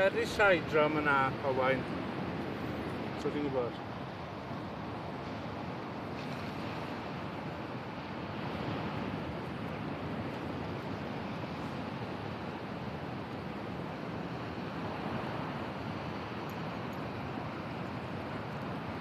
Ferry Sideram yna, Owain. So fi'n gwybod.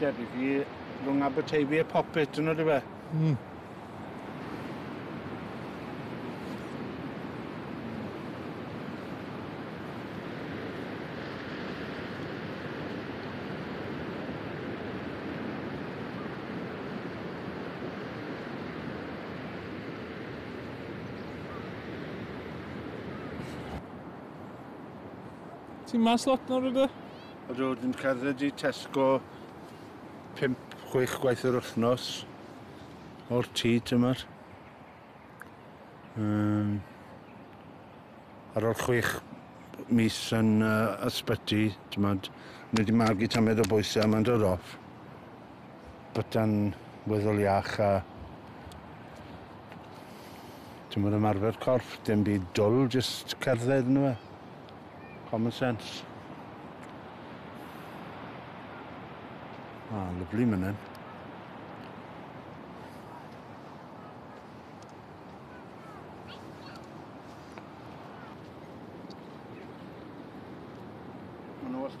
Debyg i rhwng Aberteifi a Popit, dyna dy fe? Mm. Ti'n mas lot nawr ydw? Ydw, dwi'n cerdded i Tesco 5-6 gwaith yr wythnos o'r tŷ tymor. Um, ar ôl 6 mis yn uh, ysbyty, tymod, mae wedi magu tamed o bwysau, mae'n dod off. Byta'n weddol iach a Dim ond ymarfer corff, dim byd dwl, jyst cerdded yn yma. Common sense. Ah, lyflu mynen.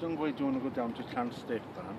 Don't worry, do you want to go down to Llanstep, Anne?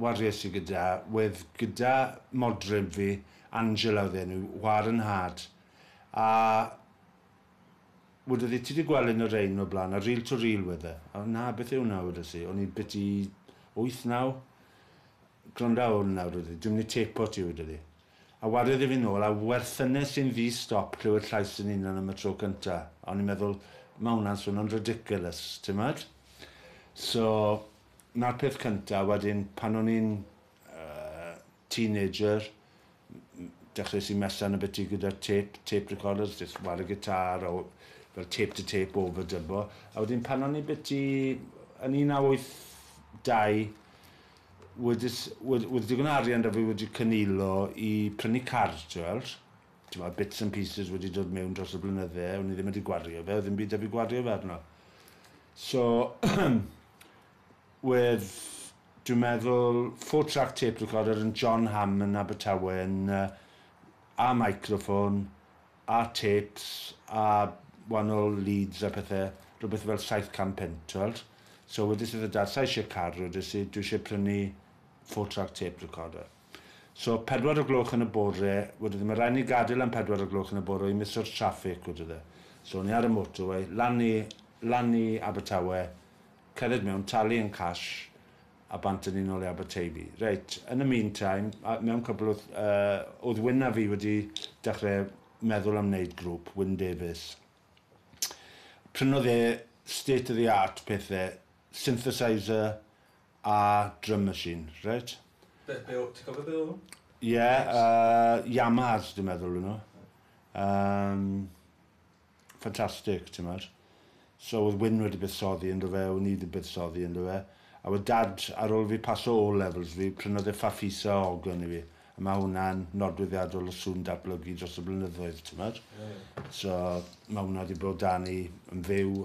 Wariais i gyda, wedd gyda modryb fi, Angela oedd enw, war yn nhad. A wedodd hi, ti di gweld un o rein o blaen, a reel to reel wedd e. A na, beth yw hwnna, wedodd hi. O'n i beth i wyth, naw? Gwranda ar hwn nawr, wedodd hi, dwi'n mynd i têpo ti, wedodd hi. A wariodd hi fi nôl, a werthynes i'n ddi stop clywed llais yn hunan am y tro cynta. A o'n i'n meddwl, ma' hwnna'n swnio'n ridiculous, timod? So, 'na'r peth cynta, wedyn pan o'n i'n yy teenager m- m- dechreues i mella'n ybyty gyda tape, tape recorders, jyst ware gitâr a o- fel tape to tape overdubio, a wedyn pan o'n i byty yn un naw wyth dau wedys wed- wedd digon o arian 'da fi wedi cynilo i prynu car ti weld, t'mod bits and pieces wedi dod mewn dros y blynydde, o'n i ddim wedi gwario fe, o'dd ddim byd 'da fi gwario fe arno. So with dwi'n meddwl four track tape recorder yn John Ham yn Abertawe yn yy a microphone a tapes a wanol leads a pethe rwbeth fel saith can punt t'weld so wedes i wrth y dad sai isie car wedes i dwi isie prynu four track tape recorder. So, pedwar o gloch yn y bore, wedydde, ma' raid ni gadel am pedwar o gloch yn y bore i miso'r traffig, wedydde. So, o'n i ar y motorway, lan i, lan i Abertawe, cerdded mewn, talu yn cash, a bant â ni nôl i Aberteifi. Reit, yn y meantime, a mewn cwpl o wth-, yy, o'dd Wyn a fi wedi dechre meddwl am neud grŵp, Wyn Davies. Prynodd e state of the art pethe, synthesizer, A drum machine, reit. Be, be o- ti'n cofio be oedden nhw? Ie, yy, Yamahas dwi'n meddwl o'n nhw. Um, ffantastig, ti'n meddwl. So oedd Wyn wedi buddsoddi ynddo fe, o'n i wedi buddsoddi ynddo fe. A oedd dad, ar ôl fi paso o levels fi, prynodd e Fafisa o Ogon i fi. A mae hwnna'n nodweddiadol o sŵn datblygu dros y blynyddoedd, ti'n meddwl. So mae hwnna wedi bod dan i yn fyw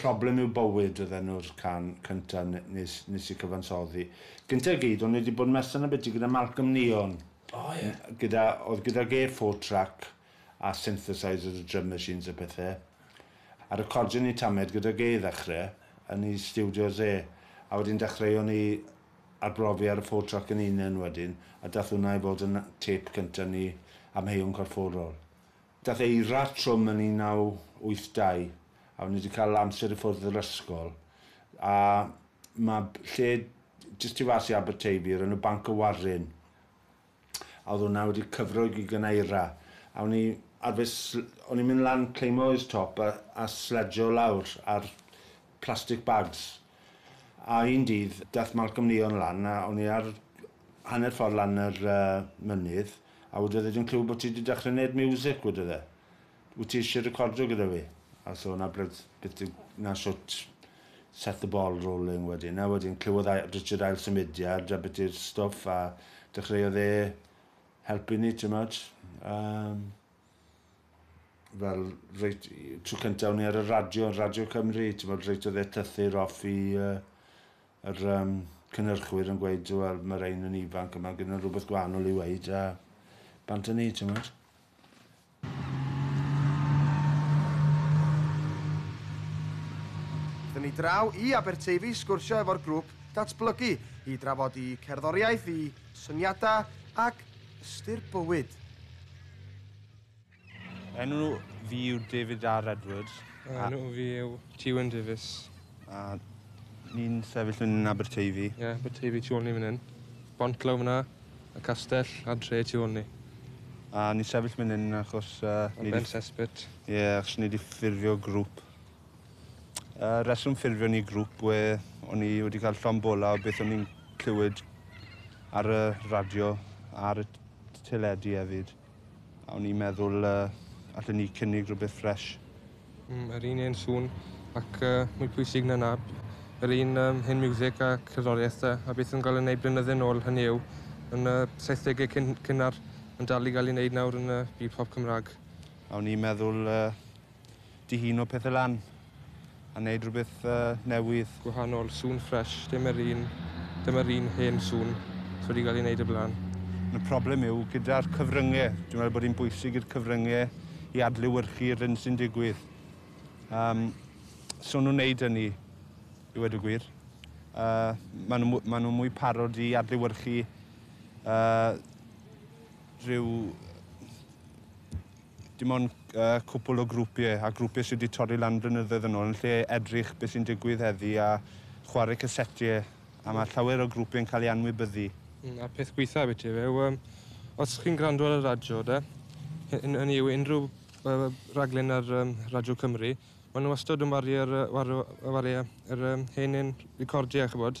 Problem yw bywyd oedd enw'r can cynta nes nes i cyfansoddi. Gynta i gyd o'n i wedi bod yn messed yn abyti gyda Malcolm Neon. O ie. Gyda oedd gydag e four track a synthesizers a drum machines a pethe. A recordio ni tamed gydag e i ddechre yn i stiwdios e. A wedyn dechreuon ni arbrofi ar y four track yn unen wedyn a dath hwnna i fod yn tape cynta ni Amheuon Corfforol. Daeth Eira trwm yn 1982 a o'n i 'di cael amser i ffwrdd yr ysgol a ma' lle jyst tu fas i Aberteifi o'r enw Banc y Waryn a oedd hwnna wedi cyfro i gig gan Eira a o'n i arfer sl- o'n i'n mynd lan cleimo i'r top a a sledsio lawr ar plastic bags a un dydd daeth Malcolm Leon lan a o'n i ar hanner ffordd lan yr yy mynydd A wedodd e, dwi'n clywed bod ti 'di dechrau wneud miwsig, wedodd e. Wyt ti eisiau recordio gyda fi? A so 'na bryd beth yw, 'na shwt set the ball rolling wedyn. A wedyn clywodd a- Richard ail symudiad a beth yw'r stwff a dechreuodd e helpu ni, timod. Yym fel reit tro cyntaf o'n i ar y radio, Radio Cymru, timod, reit oedd e llythyr off i yy yr um, cynnyrchwyr yn gweud, wel, mae rhain yn ifanc, yma gyda rhywbeth gwahanol i weid, a bant yn ni, ti'n meddwl? ni draw i Aberteifi sgwrsio efo'r grŵp datblygu i drafod i cerddoriaeth, i syniadau ac ystyr bywyd. Enw fi yw David R Edward. Enw fi yw Tiwen Davies. A ni'n sefyll yn Aberteifi. Ie, yeah, Aberteifi tu ôl ni fan hyn. Bont glaw fyna, y castell a dre tu ôl ni. A ni'n sefyll fan hyn achos... Uh, Am Ben Sespit. Ie, yeah, achos ni wedi ffurfio grŵp. Uh, reswm ffurfio ni grŵp we o'n i wedi cael llon bola o beth o'n i'n clywed ar y radio, ar y teledu hefyd. A o'n i'n meddwl uh, allan ni cynnig rhywbeth ffres. Mm, yr un un sŵn ac uh, mwy pwysig na nab. Yr un um, hen music a cerddoriaeth da, a beth yn cael ei wneud blynydde nôl hynny yw yn y uh, 70au cyn, cynnar yn dal i gael ei wneud nawr yn y uh, byd pop Cymraeg. A o'n i'n meddwl uh, dihuno pethe lan a neud rhywbeth uh, newydd. Gwahanol, sŵn ffres, dim yr un, dim yr un hen sŵn sydd wedi cael ei wneud y blaen. Y problem yw gyda'r cyfryngau. Dwi'n meddwl bod hi'n bwysig i'r cyfryngau i adlewyrchu'r hyn sy'n digwydd. Um, so nhw'n wneud hynny, i wedi gwir. Uh, maen nhw, ma nhw mwy parod i adlewyrchu uh, rhyw Dim ond cwpl o grwpiau a grwpiau sydd wedi torri lan blynyddoedd yn ôl yn lle edrych beth sy'n digwydd heddi a chwarae casetiau a mae llawer o grwpiau'n cael eu anwybyddu. Mm, a peth gweitha beth yw yw um, os chi'n gwrando ar y radio de, hynny yw unrhyw uh, raglen ar um, Radio Cymru, maen nhw wastad yn wario'r uh, wario, wario, yr um, hen un recordiau, chybod,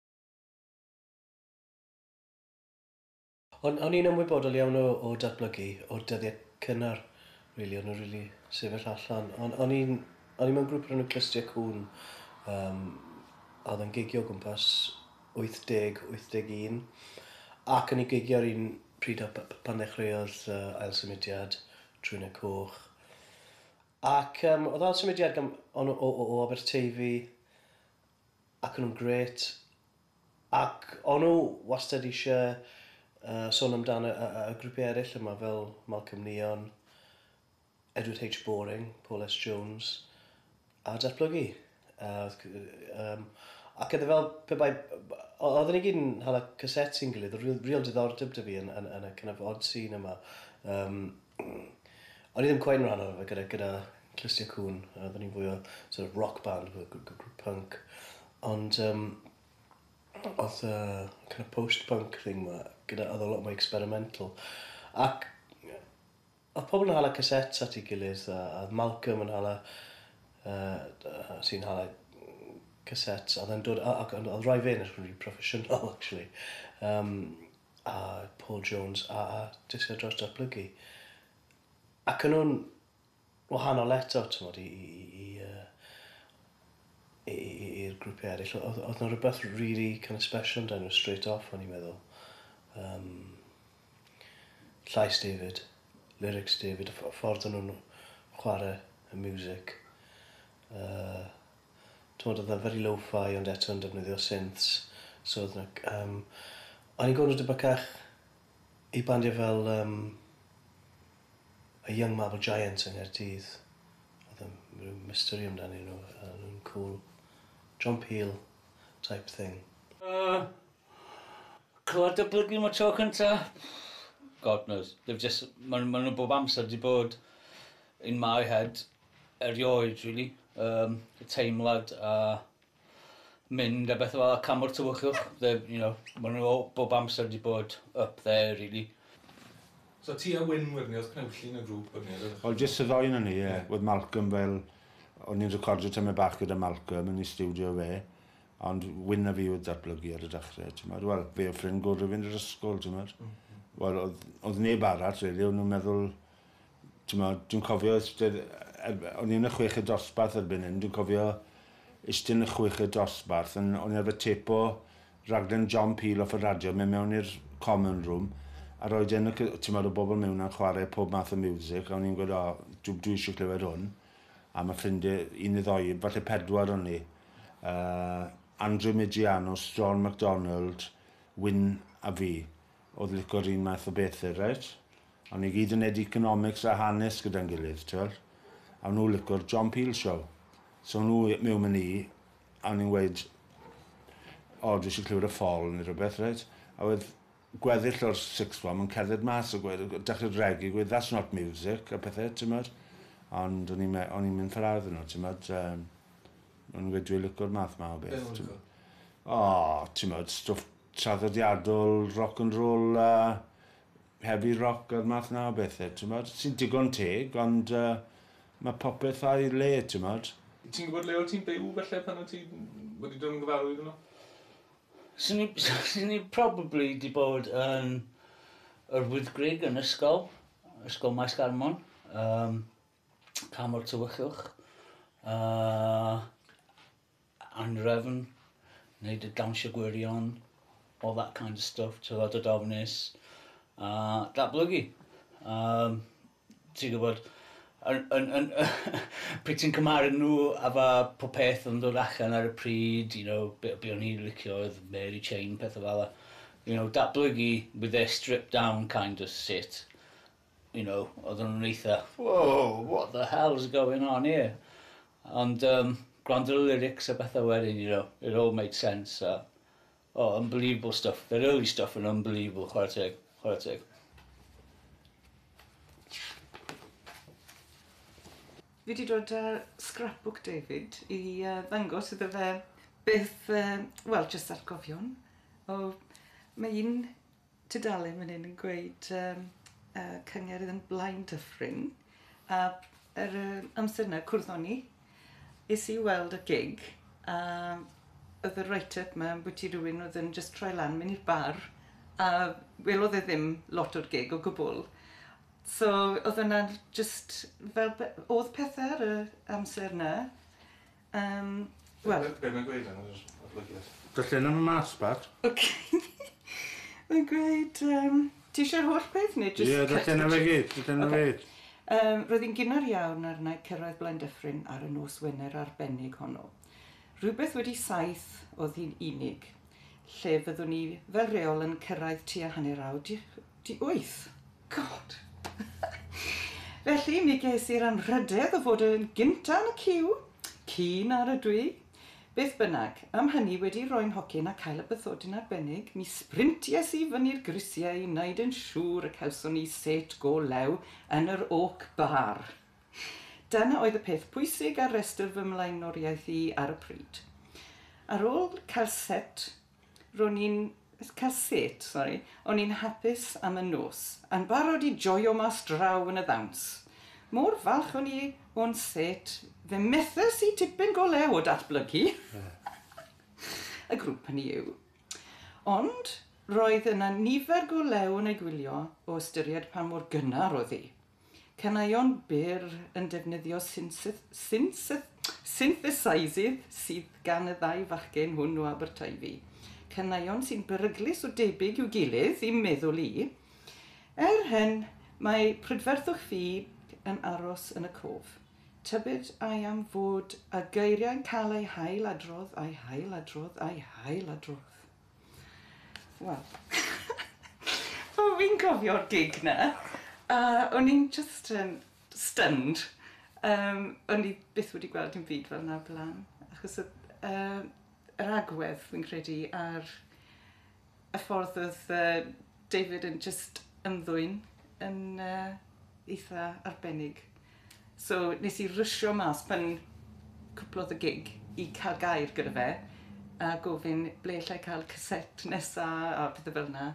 O'n o'n i'n ymwybodol iawn o o datblygu o'r dyddie cynnar rili o'n nw rili sefyll allan on' o'n i'n o'n i mewn grŵp o'r enw Clustia Cŵn yym a odd e'n gigio o gwmpas wyth deg wyth deg un ac o'n i gigio ar un pryd â p- p- pan ddechreuodd yy ail symudiad Trwynau Coch ac yym odd ail symudiad gam- o'n nw o o o Aberteifi ac o'n nhw'n grêt ac o'n nhw wastad eisiau yy sôn amdan y y y grwpiau eraill yma fel Malcolm Neon, Edward H Boring, Paul S Jones a Datblygu yy wrth g- yym ac oedd e fel pe bai o- oedden ni gyd yn hala casets i'n gilydd oedd real real diddordeb 'da fi yn yn yn y kind of odd scene yma yym. Hmm. O'n i ddim cweit yn rhan ohono fe gyda gyda Clustiau Cŵn. Yy oedden ni'n fwy o sort of rock band gr- gr- gr- grŵp punk. Ond yym o'dd y kind of post punk thing 'ma gyda o'dd o lot mwy experimental. Ac yy o'dd pobol yn hala cassettes at 'i gilydd a a o'dd Malcolm yn hala yy d- yy sy'n hala cassettes a o'dd e'n dod a ac ond o'dd rai fe'n edrych yn rili proffesiynol actually. Yym. a Paul Jones a a Disial Dros Datblygu. Ac yn nhw'n wahanol eto, t'mod, i i i i yy i i i i'r grwpiau eraill. O- O'dd o'dd 'na rwbeth r- rili kind of special amdanyn nhw straight off o'n i'n meddwl. Yym llais David, lyrics David, y ff- y ffordd o'n nhw'n chware y miwsic. Yy. t'mod odd e very lo-fi ond eto yn defnyddio synths so odd 'na c- yym o'n i'n gwel' nw dipyn cach i bandiau fel yym y Young Marble Giant yng Nghaerdydd odd yn ryw mystery amdanyn nw a o'n nw'n cŵl. John Peel type thing. Yy clywed y plyg am y tro cynta? God knows. They've jus- ma' ma' nw bob amser 'di bod in my head. erioed rili yym y teimlad a mynd a bethe fel 'a cam o'r tywyllwch the you know ma' n'w o- bob amser 'di bod up there rili. So ti a Wyn wedyn 'ny o'dd cnawllun y grŵp wedyn 'ny o'dd e? O jyst y ddou o'non ni ie. Ie. O'dd Malcolm fel o'n i'n recordio tamaid bach gyda Malcolm yn ei stiwdio fe ond Wyn a fi o'dd datblygu ar y dechre t'mod wel fe o'dd ffrind gore fi yn yr ysgol t'mod? Hmm hmm. Wel o'dd o'dd neb arall rili o'n nw'n meddwl T'mod, dwi'n cofio istedd yy o'n i yn y chweched dosbarth erbyn hyn, dwi'n cofio iste yn y chweched dosbarth yn o'n i arfer têpo raglen John Peel off y radio, mynd mewn i'r common room a roid e yn y c- t'mod o' bobl miwn a'n chware pob math o miwsic a o'n i'n gweud o dw- dwi isie clywed hwn a ma' ffrindie un ne' ddou, falle pedwar o'n ni yy Andrew Migeano, Strawn McDonald, Wyn a fi. odd lico'r un math o bethe reit. A o'n ni gyd yn neud economics a hanes gyda'n gilydd t'wel. A o'n nw lico'r John Peel show. So o'n nw i- miwn â ni a o'n i'n weud o dwi isie clywed y Fall ne' rwbeth reit. A wedd gweddill o'r sixth form yn cerdded mas a gweud yy dechre regi gweud that's not music a pethe t'mod. Ond o'n i'n me- o'n i'n mynd fel arall 'dy nw t'mod yym o'n i'n gweud dwi lico'r math 'ma o beth. Be' o' nw'n lico? O t'mod stwff traddodiadol, rock and roll a heavy rock a'r math 'na o bethe, t'mod, sy'n digon teg, ond yy ma' popeth a'i le, t'mod. Ti'n gwbod le o' ti'n byw falle pan o' ti wedi dod yn gyfarwydd â nhw? Swn i swn i probably 'di bod yn yr Wyddgrug yn ysgol, ysgol Maes Garmon, yym Canmor Tywyllwch, yy. anhrefn, neud y dawnsio gwirion, all that kind of stuff, tywod, dod ofnus, a datblygu. Um, ti'n gwybod, yn, yn, yn, pryd ti'n cymaru nhw a fa po peth yn dod allan ar y pryd, you know, be, be o'n i'n licio oedd Mary Chain, pethau fel you know, datblygu with their stripped down kind of sit, you know, oedden nhw'n eitha, whoa, what the hell's going on here? Ond um, gwrando y lyrics a bethau wedyn, you know, it all made sense. So, oh, unbelievable stuff. Their early stuff yn unbelievable, chwarae teg, chwarae teg. Fi wedi dod â uh, scrapbook David i uh, ddangos iddo fe beth, uh, wel, just atgofion. O, mae un Tudalen fan hyn yn gweud yym yy cyngerdd yn Blaen Dyffryn a yr yy amser 'na cwrddon ni. Es i i weld y gig a o'dd y write up 'ma ambwti rywun o'dd yn jyst troi lan myn' i'r bar a welodd e ddim lot o'r gig o gwbwl. So o'dd wnna'n jyst fel pe- o'dd pethe ar y amser 'na Yym, wel... Be' be' mae'n gweud ar yr adolygiad? Darllena fo mas, Pat. Ok. Mae'n gweud yym... Ti isie'r holl peth neu jyst... Ie, darllena fe gyd, darllena fe gyd. Yym, roedd hi'n gynnar iawn arna i cyrraedd Blaendyffryn ar y nos Wener arbennig honno. Rhywbeth wedi saith oedd hi'n unig, lle fyddwn i fel rheol yn cyrraedd tua hanner awr 'di 'di wyth. God! Felly, mi ges i'r anrhydedd o fod yn gynta' yn y ciw, ci na rydw i. Beth bynnag, am hynny, wedi rhoi'n nhocyn a cael y bythodyn arbennig, mi sprinties i fyny'r grisiau i wneud yn siŵr y cawson ni set go lew yn yr Oak Bar. Dyna oedd y peth pwysig ar restr fy mlaenoriaeth i ar y pryd. Ar ôl cael set Ro'n i'n, cael set, sori, o'n i'n hapus am y nos, yn barod i joio mas draw yn y ddawns. Mor falch o'n i o'n set, fe methes i tipyn go lew o datblygu y grŵp hynny yw. Ond, roedd yna nifer go lew yn ei gwylio o ystyried pa mor gynnar oedd hi. Caneuon byr yn defnyddio synthesaisydd sydd gan y ddau fachgen hwn o Aberteifi. Caneuon sy'n beryglus o debyg i'w gilydd, i'm meddwl i. Er hyn, mae prydferthwch fi yn aros yn y cof. Tybed ai am fod y geiriau'n cael eu hail-adrodd, ai hail-adrodd, ai hail-adrodd? Wel, fel fi'n cofio'r gig 'na, a o'n i'n jyst yn stunned. Yym, o'n i byth wedi gweld dim byd fel 'na o'r bla'n, achos odd yy yr agwedd fi'n credu a'r y ffordd odd yy David yn jyst ymddwyn yn yy eitha arbennig. So nes i rwsio mas pan cwplodd y gig i ca'l gair gyda fe a gofyn ble allai ca'l caset nesa a pethe fel 'na.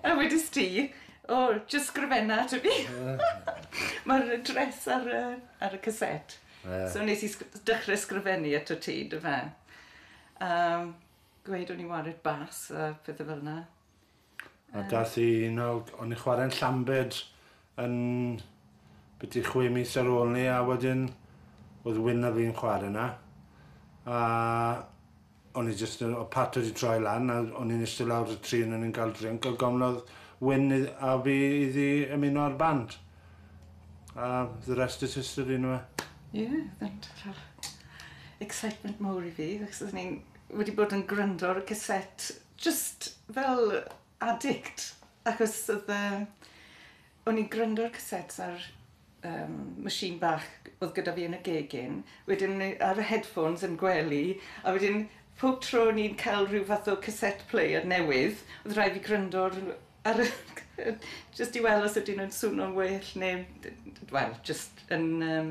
A wedest ti o jyst sgrifenna ato fi. Ma'r address ar y ar y caset. So nes i sg- dechre sgrifennu ato ti 'dy fe. A gweud o'n i wared bas a pethe fel 'na. A dath i un o... o'n i'n chwarae'n Llambed yn byti chwe mis ar ôl ni a wedyn oedd Wyn a fi'n chwarae yna a o'n i jyst yn... oedd Pat wedi troi lan a o'n i'n eistedd lawr y tri o'n i'n cael drink a gofnodd Wyn a fi iddi ymuno â'r band a the rest is history yndyfe? Ie, excitement mawr i fi achos o'n i'n wedi bod yn gwrando ar y caset jyst fel addict achos odd yy o'n i'n gwrando ar casets ar yym machine bach odd gyda fi yn y gegin wedyn ni- ar y headphones yn gwely a wedyn pob tro o'n i'n ca'l ryw fath o caset player newydd odd rhai' fi gwrando ar rw- ar y yy jyst i wel' os ydyn nw'n swno'n well ne' d- d- wel jyst yn yym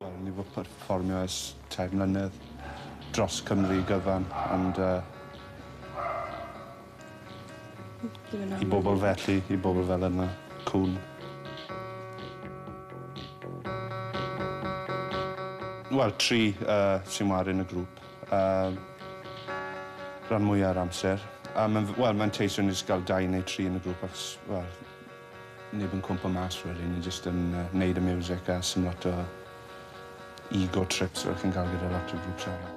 Wel, ni fu perfformio ers tair mlynedd dros Cymru gyfan, ond yy... I bobl felly, i bobl fel yna, cŵn. Wel, tri yy sy'n ware yn y grŵp yym rhan mwya'r amser. A ma'n, wel, ma'n teisio jyst ga'l dau neu tri yn y grŵp achos, wel, Neb yn cwmpo mas rili, ni jyst yn neud y miwsic a sdim lot o ego trips fel chi'n cael gyda lot o grŵps arall.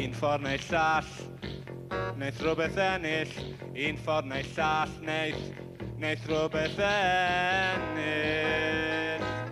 Un ffordd neu'r llall, wneith rhywbeth ennill, un ffordd neu'r llall, wneith, wneith rhywbeth ennill.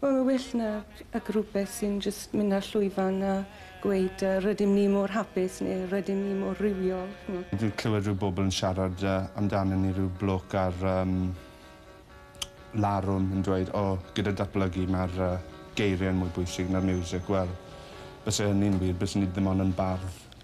Wel mae'n well na ac rwbeth sy'n jyst mynd ar llwyfan a gweud yy rydym ni mor hapus neu rydym ni mor rywiol ch'mo'. Dwi'n clywed rhyw bobl yn siarad yy amdana ni rhyw bloke ar yym larwm yn dweud o gyda datblygu ma'r yy geirie'n mwy bwysig na'r miwsic wel byse hynny'n wir bysen ni ddim ond yn bardd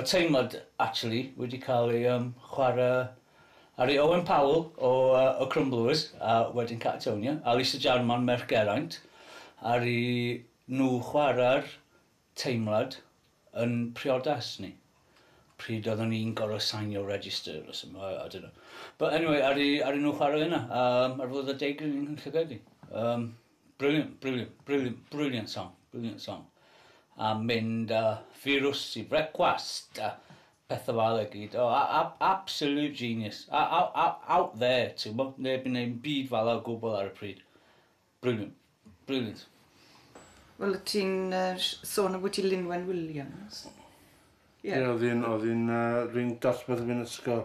Oedd teimlad actually wedi cael ei yym chwarae ar ei Owen Powell o yy y Crumblers a wedyn Catatonia a Lisa Jarman merch Geraint aru nhw chwarae'r teimlad yn priodas ni pryd oeddwn ni'n gorfod sainio register or some- I don't know but anyway aru aru nhw chwarae yna yym ar Fwrdd y Deugryn yn Llanelli yym Brilliant, brilliant, brilliant, brilliant song, brilliant song. A mynd a firws i frecwast a pethau fel y gyd. Oh, a, a, absolute genius. A, a, a, out there, ti'n bo? Neb yn neud byd fel o gwbl ar y pryd. Brilliant, brilliant. Wel, ti'n uh, sôn am wyt ti Linwen Williams. Ie, yeah. yeah, oedd un, oedd un uh, ring dosbarth yn fy ysgol.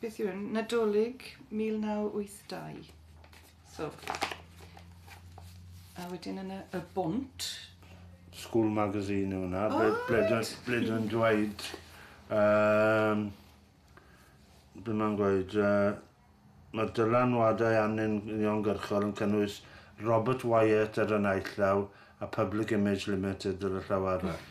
Beth yw hwn? Nadolig 1982. So. A wedyn yna y bont. School magazine yw hwnna. Oh, ble, ble, ble dwi'n dweud... Um, be mae'n gweud... Uh, mae dylanwadau arnyn ni'n gyrchol yn cynnwys Robert Wyatt ar y naill llaw a Public Image Limited ar y llaw arall.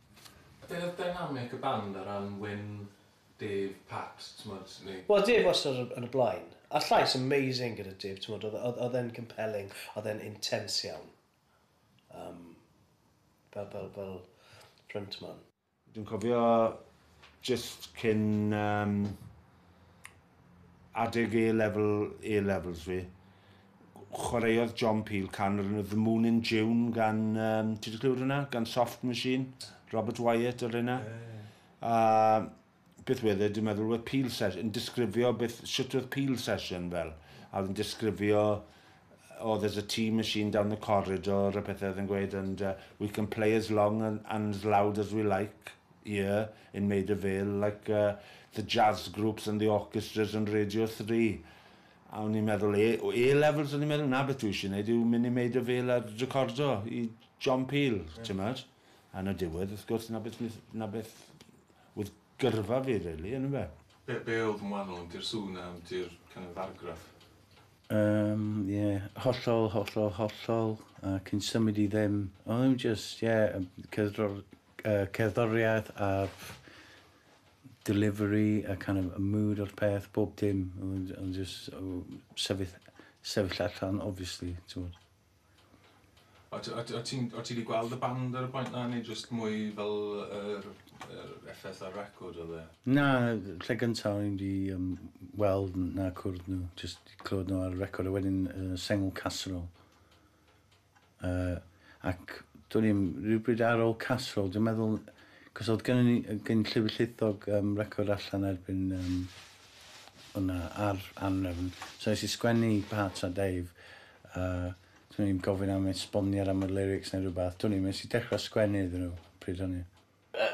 Be oedd dynamic y band ar ran Wyn, Dave, Pat, t'mod, neu? Wel Dave wastad yn y blaen. A'r llais amazing gyda Dave, t'mod, oedd oedd oedd e'n compelling, oedd e'n intense iawn. Yym, fel fel fel frontman. Dwi'n cofio jyst cyn yym Adeg A-Level, A-Levels fi, chwaraeodd John Peel can o'r enw The Moon in June gan, um, ti wedi clywed hwnna? Gan Soft Machine, Robert Wyatt o'r hynna. A beth wedd e, dwi'n meddwl, wedd Peel Session, yn disgrifio beth, sut oedd Peel Session fel. A oedd yn disgrifio, oh, there's a tea machine down the corridor, a pethau oedd yn gweud, and uh, we can play as long and, and as loud as we like. Ie, in Maida Vale, like uh, the jazz groups and the orchestras on Radio Three. A o'n i'n meddwl, A, A levels, o'n i'n meddwl, na beth dwi eisiau gwneud yw mynd i Maida Vale a recordo i John Peel, yeah. ti'n meddwl? A yn y diwedd, wrth gwrs, na beth, na beth oedd gyrfa fi, really, yn y fe. Be, be oedd yn wahanol yn di'r sŵn am di'r kind of argraff? Um, yeah, hollol, hollol, hollol, a cyn symud i ddim. Oedd yn just, yeah, cydro'r yy cerddoriaeth a'r delivery a kind of y mood o'r peth, bob dim. Ond ond jyst o sefyll sefyll allan obviously t'mod. O' t- o' t- o' ti'n o' ti 'di gweld y band ar y pwynt 'na neu jyst mwy fel yr yr effeth ar record odd e? Na yy lle gynta o'n i 'di yym weld n- na cwrdd nhw jyst clywed nhw ar y record a wedyn yy sengl Casserole. Yy, ac do'n i'm, rywbryd ar ol Casserole, dwi'n meddwl, cos oedd gynnon ni, gyn Llyfr Llithog yym record allan erbyn yym hwnna, ar Anrefn. So es i sgwennu i Pat a Dave, a do'n i'm gofyn am esboniad am y lyrics neu rywbeth, do'n i'm, es i dechrau sgwennu iddyn nhw pryd hynny.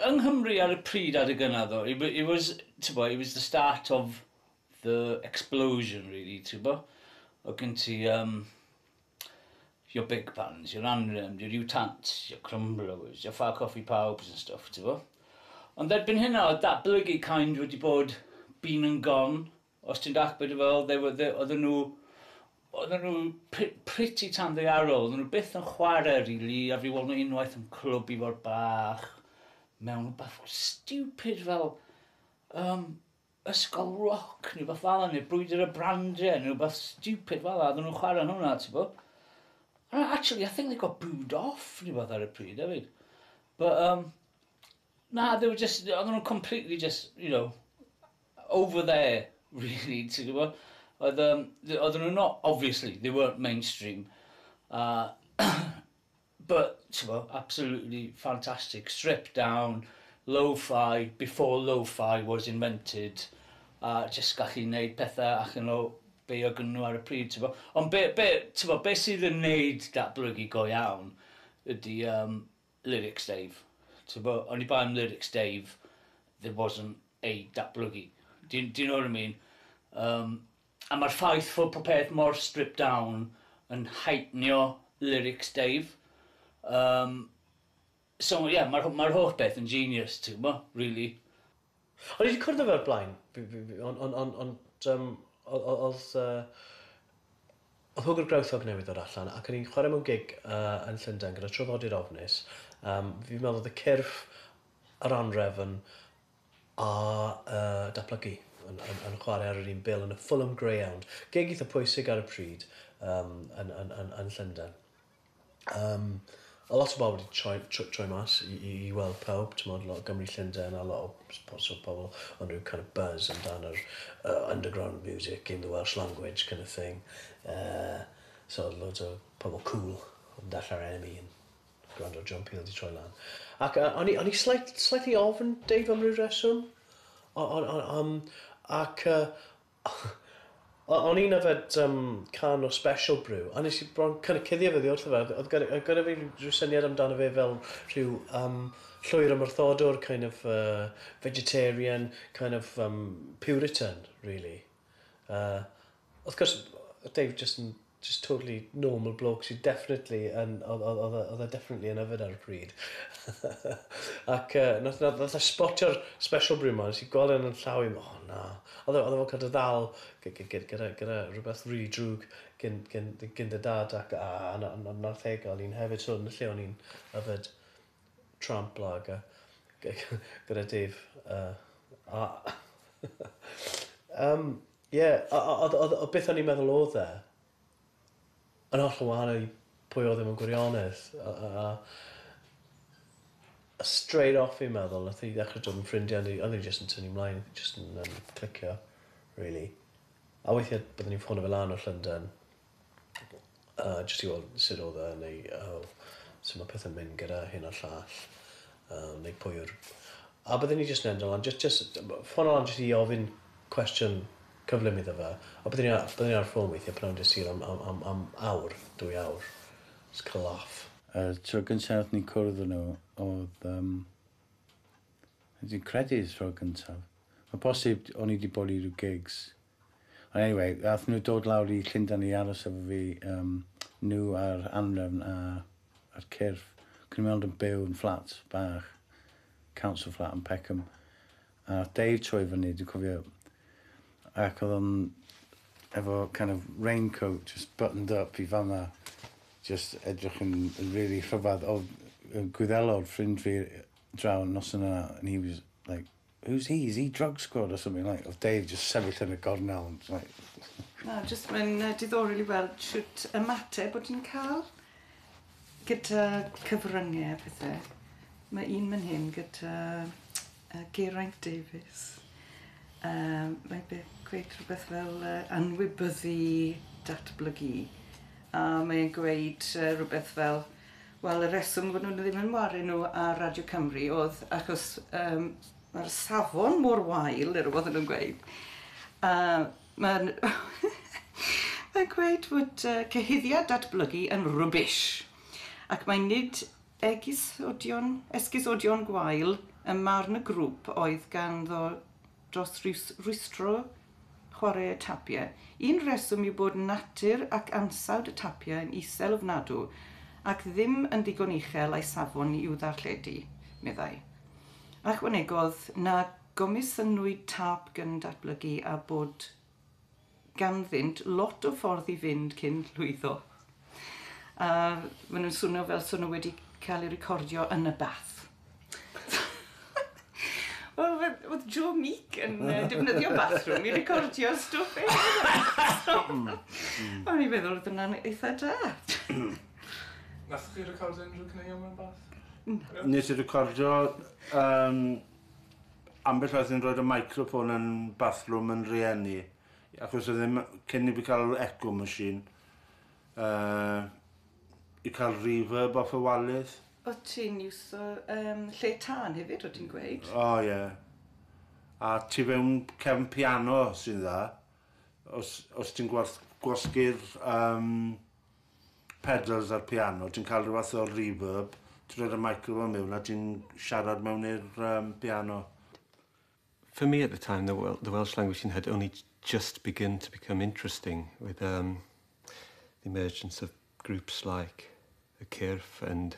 Yng Nghymru ar y pryd adeg yna ddo, it wa- it was, tibod, it was the start of the explosion really, tibod? Oedd gen ti yym your big bands, your Anremd, your Utants, your Crumblowers, your Far Coffee Pawbs and stuff, ti'n fo? Ond erbyn hynna, oedd datblygu kind wedi bod been and gone, os ti'n dach beth fel, they were, they, oedden nhw, oedden nhw pretty tan ddearol, oedden nhw byth yn chwarae rili, really, a fi weld nhw unwaith yn clwb i fod bach, mewn bach stupid fel, um, Ysgol roc neu beth fala neu brwydr y brandiau neu rhywbeth stupid fala oedden nhw'n chwarae hwnna ti bo. And actually I think they got booed off neu beth ar y pryd hefyd. But um na they were just oedden nhw'n completely just you know over there really ti gwbo. Oedd um oedden nhw not obviously they weren't mainstream a But, t'bo, absolutely fantastic, stripped down, lo-fi, before lo-fi was invented, a jyst gallu neud pethe allan o be o gynnyn nhw ar y pryd, t'bo. Ond be, be, t'bo, be sydd yn neud datblygu go iawn ydi yym lyrics Dave. T'bo, oni bai am lyrics Dave, there wasn't a datblygu. Do you, do you know what I mean? Yym. A mae'r ffaith fod popeth mor stripped down yn heightnio lyrics Dave. Yym, so ie, mae'r mae'r holl beth yn genius, ti'n gwybod, rili. O'n i 'di cwrdd â fe o'r blaen, ond ond ond ond yym o- o- o'dd yy o'dd Hwgwr Groundhog newydd ddod allan ac o'n i'n chwarae mewn gig yy yn Llundain gyda Traddodiad Ofnus, yym fi'n meddwl o'dd y cyrff, yr anrefn, a yy datblygu yn yn yn chware ar yr un bil yn y Fulham Greyhound, gig eitha pwysig ar y pryd um, yn, yn, yn, yn Llundain. Um, a lot o bobl wedi troi, troi, troi mas i, i, i weld pawb, ti'n modd, lot o Gymru Llundain a lot o so pobl ond rhyw kind of buzz amdan yr uh, underground music in the Welsh language kind of thing. Uh, so loads o pobl cool yn dalla'r enemy yn Gwrando John Peel 'di troi lan. Ac yy o'n i o'n i slight- slightly ofn Dave am ryw reswm. O- o- o- yym ac yy o- o'n i'n yfed yym can o Special Brew a nes i bron kind of cuddio fo oddi wrtho fe. O'dd o'dd gyda yy gyda fi ryw ryw syniad amdano fe fel rhyw yym llwyr ymwrthodwr kind of yy vegetarian kind of yym puritan rili. Yy wrth gwrs Dave jyst yn just totally normal bloke sydd definitely yn, oedd, oedd, oedd, oedd e definitely yn yfed ar y pryd. Ac uh, nath, nath, nath e spotio'r special brew ma, nes i gweld yn yn llaw i, o oh, na. Oedd e, oedd e fel cael dy ddal gyda, gyda rhywbeth really drwg gyn, gyn, gyn dy dad, ac a, a, na, na, nath e gael un hefyd, so yn y lle o'n i'n yfed tramp lager gyda Dave. Uh, a, um, Ie, a oedd, oedd, oedd beth o'n i'n meddwl oedd e, yn hollol wahanol i pwy oedd e mewn gwirionedd. A, a, a, a straight off fi'n meddwl, nath i ddechrau dod yn ffrindiau, ond oedd e jyst yn tynnu ymlaen, oedd e jyst yn um, clicio, really. A weithiau byddwn ni'n ffono fe lan o Llundain, a jyst i weld sut odd e neu yy su' ma' pethe'n mynd gyda hyn a'r llall yym neu pwy yw'r... A bydden i jyst yn edrych lan jyst jyst yym ffono lan jyst i ofyn cwestiwn cyflym iddo fe a bydden i a- bydden i ar y ffôn weithie pan o'n i'n Dydd Sul am am am am awr, dwy awr, jyst ca'l laff. Y tro gynta' nathon ni cwrdd â nhw odd yym dwi'n credu y tro gyntaf. Ma'n bosib o'n i 'di bod i ryw gigs Ond anyway, aethon nhw dod lawr i Llundain i aros efo fi, um, nhw a'r anrefn a, a'r cyrff. Cwn i'n ond yn byw yn fflat bach, council flat yn Peckham. A Dave troi fyny, dwi'n cofio, ac oedd o'n efo kind of raincoat just buttoned up i fama, just edrych yn, yn really rhyfedd. Oedd gwyddelo'r ffrind fi draw nos yna, and he was like, Who's he? Is he drug squad or something like? Odd Dave jyst sefyll yn y gornel yn like... Na, jyst mae'n uh, diddorol i weld shwt ymateb bod ti'n cael gyda cyfryngau a pethau. Mae un mynd hyn gyda uh, Geraint Davies. Um, mae'n gweud rhywbeth fel uh, anwybyddu datblygu. A mae'n gweud uh, rhywbeth fel Wel y reswm fod nhw ddim yn wario nhw ar Radio Cymru oedd achos um, mae'r safon mor wael, yr oedd nhw'n gweud. A mae'n... mae'n gweud fod uh, cyhuddiad datblygu yn rwbish. Ac mae nid egusodion, esgusodion gwael y marn y grŵp oedd ganddo dros rwystro chwaraeau tapiau. Un rheswm yw bod natur ac ansawdd y tapiau yn isel ofnadw ac ddim yn ddigon uchel a'u safon i'w ddarlledu, meddai. Ychwanegodd na gomisiynwyd tap gyn-datblygu a bod ganddynt lot o ffordd i fynd cyn llwyddo. A maen nhw'n swno fel swno wedi cael ei recordio yn y bath. Wel, oedd Joe Meek yn uh, defnyddio bathroom i recordio stwff ei hmm. O'n i'n meddwl oedd yna'n eitha da. Nath chi recordio unrhyw caneuon mewn bath? Nes i recordio um, Ambell waith ni'n rhoid y microphone yn bathroom yn rieni, ac os e ddim, cyn i fi cael yr echo machine, yy, i cael reverb off y walydd. O ti'n iwso yym lle tân hefyd o ti'n gweud? O ie. A tu fewn cefn piano sy'n dda os os ti'n gwasg- gwasgu'r yym pedals a'r piano, ti'n cael rhyw fath o reverb, ti'n rhoi'r microphone mewn a ti'n siarad mewn i'r um, piano. For me at the time, the, the Welsh language thing had only just begun to become interesting with um, the emergence of groups like the Kirf and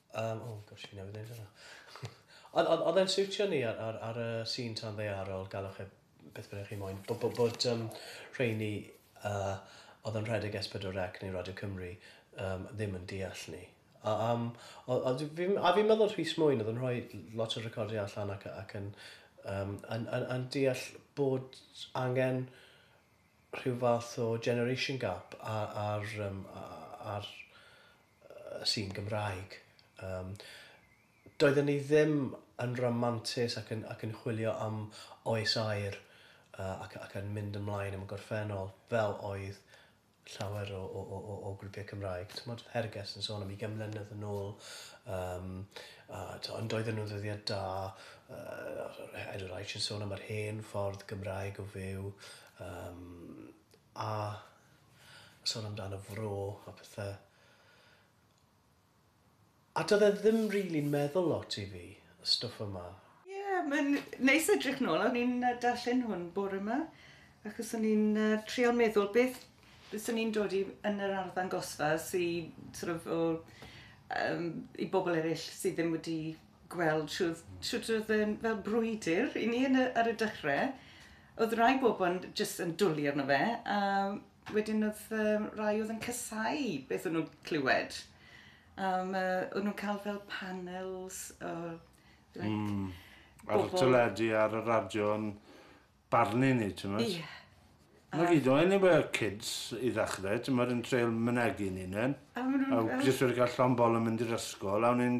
Yym o gosh fi newydd ddeud hwnna. Ond ond oedd e'n siwtio ni ar ar ar y sîn tan ddaearol galwch e beth bynnag chi moyn b- b- bod yym rheini yy oedd yn rhedeg Ess Pedwar Ec neu Radio Cymru yym ddim yn deall ni a yym o- o- dw- fi'n a fi'n meddwl Rhys Mwyn oedd yn rhoi l- lot o recordiau allan ac ac yn yym yn yn yn deall bod angen rhyw fath o generation gap a- ar yym a- a- ar sy'n Gymraeg. Yym, doedden ni ddim yn ramantus ac yn, ac yn chwilio am oes aer uh, ac, ac yn mynd ymlaen am y gorffennol, fel oedd llawer o, o, o, o grwpiau Cymraeg. Tymod, Herges yn sôn am i gemlynedd yn ôl, um, a, to, ond doedden nhw'n ddyddiad da, uh, Edward Aitch yn sôn am yr hen ffordd Gymraeg o fyw, um, A sôn amdano Fro a pethe. A do'dd e ddim rili'n meddwl lot i fi, y stwff yma. Ie, mae'n neis edrych nôl. O'n i'n yy darllen hwn bore 'ma, achos o'n i'n yy trial meddwl beth byswn i'n dod i yn yr arddangosfa sy sort of o yym i bobl eryll sy ddim wedi gweld shwd shwt o'dd e'n fel brwydyr i ni yn y ar y dechre Oedd rai bobl jyst yn dwli arno fe a wedyn oedd rai oedd yn casau beth o'n nhw'n clywed. A o'n nhw'n cael fel panels o like... Mm. Ar y teledu ar y radio yn barnu ni, t'mod? Ie. Na gyd o'n ni fel kids i ddechrau, t'mod yn treial mynegi ni'n 'un. A ma' nhw'n fel... A jyst wedi cael llond bol yn mynd i'r ysgol a o'n i'n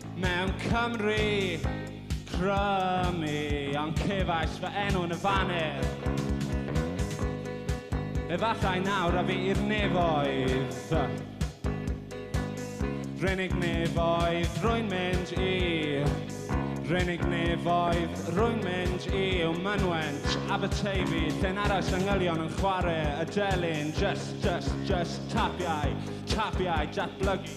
Mewn Cymru, crymu, ond cefais fy enw yn y faner. Efallai nawr a fi i'r nefoedd. Renig nefoedd, rwy'n mynd i. Renig nefoedd, rwy'n mynd i yw mynwent Aberteifi Lle'n aros yng ngylion yn chwarae y delyn Just, just, just tapiau, tapiau datblygu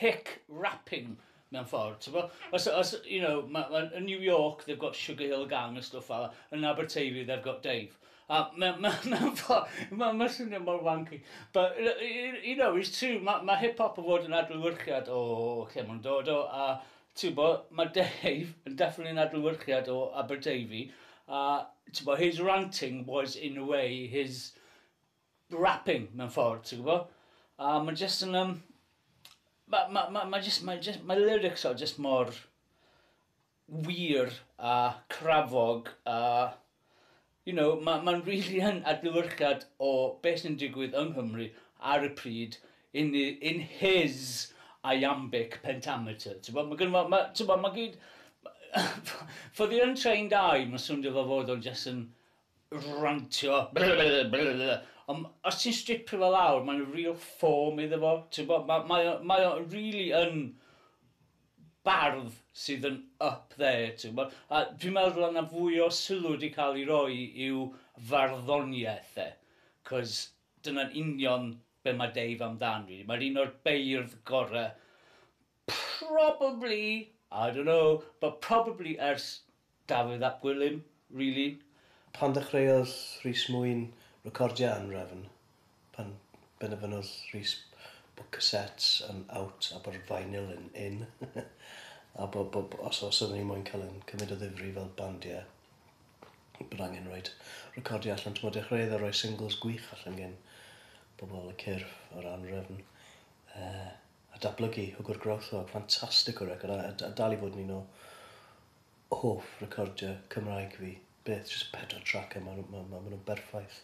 hic rapping mewn ffordd, t'bo'? Os o- os you know ma' ma' yn New York they've got Sugar Hill Gang a stwff fela, yn Aberteifi they've got Dave. A me- me- mewn ffor- ma' ma'n swnio mor wanky but y- y- y- you know it's true ma' ma' hip hop yn fod yn adlewyrchiad o lle ma' nw'n dod o a t'bo' ma' Dave yn definitely yn adlewyrchiad o Aberteifi a t'bo' his ranting was in a way his rapping mewn ffordd, ti'n gwybod? A mae jyst yn um... Mae ma, ma, ma jyst, ma jyst, ma lyrics o jyst mor wir a crafog a... You know, mae'n ma really yn adlywyrchiad o beth sy'n digwydd yng Nghymru ar y pryd in, in his iambic pentameter. Ti'n gwybod, mae gen ma, ti'n gwybod, mae gyd... For the untrained eye, mae'n swndio fel fod o'n jyst yn rantio ond os ti'n stripio fo lawr mae'n real form iddo fo t'bo' ma' mae o mae o rili yn bardd sydd yn up there t'wbo' a dwi'n meddwl o' 'na fwy o sylw 'di ca'l 'i roi i'w farddoniaeth e 'c'os dyna'n union be' ma' Dave amdan rili mae'r un o'r beirdd gore Probably, I don't know, but probably ers Dafydd ap Gwilym, really. Pan ddechreuodd Rhys Mwyn recordio Anrefn, pan benderfynodd Rhys bod cassettes yn out a bod vinyl yn in, a bo- bo- bo- os os oedden ni moyn cael ein cymryd o ddifri fel bandiau, bod angen rhoid recordio allan, t'mod, dechreuodd e roi singles gwych allan gen bobl y cyrff, yr Anrefn, yy, a datblygu hwgwr grothwog ffantastig o record a a dal i fod yn un o hoff recordiau Cymraeg fi. Beth, jyst pedwar trac a ma' nhw ma' ma' ma' nhw'n berffaith.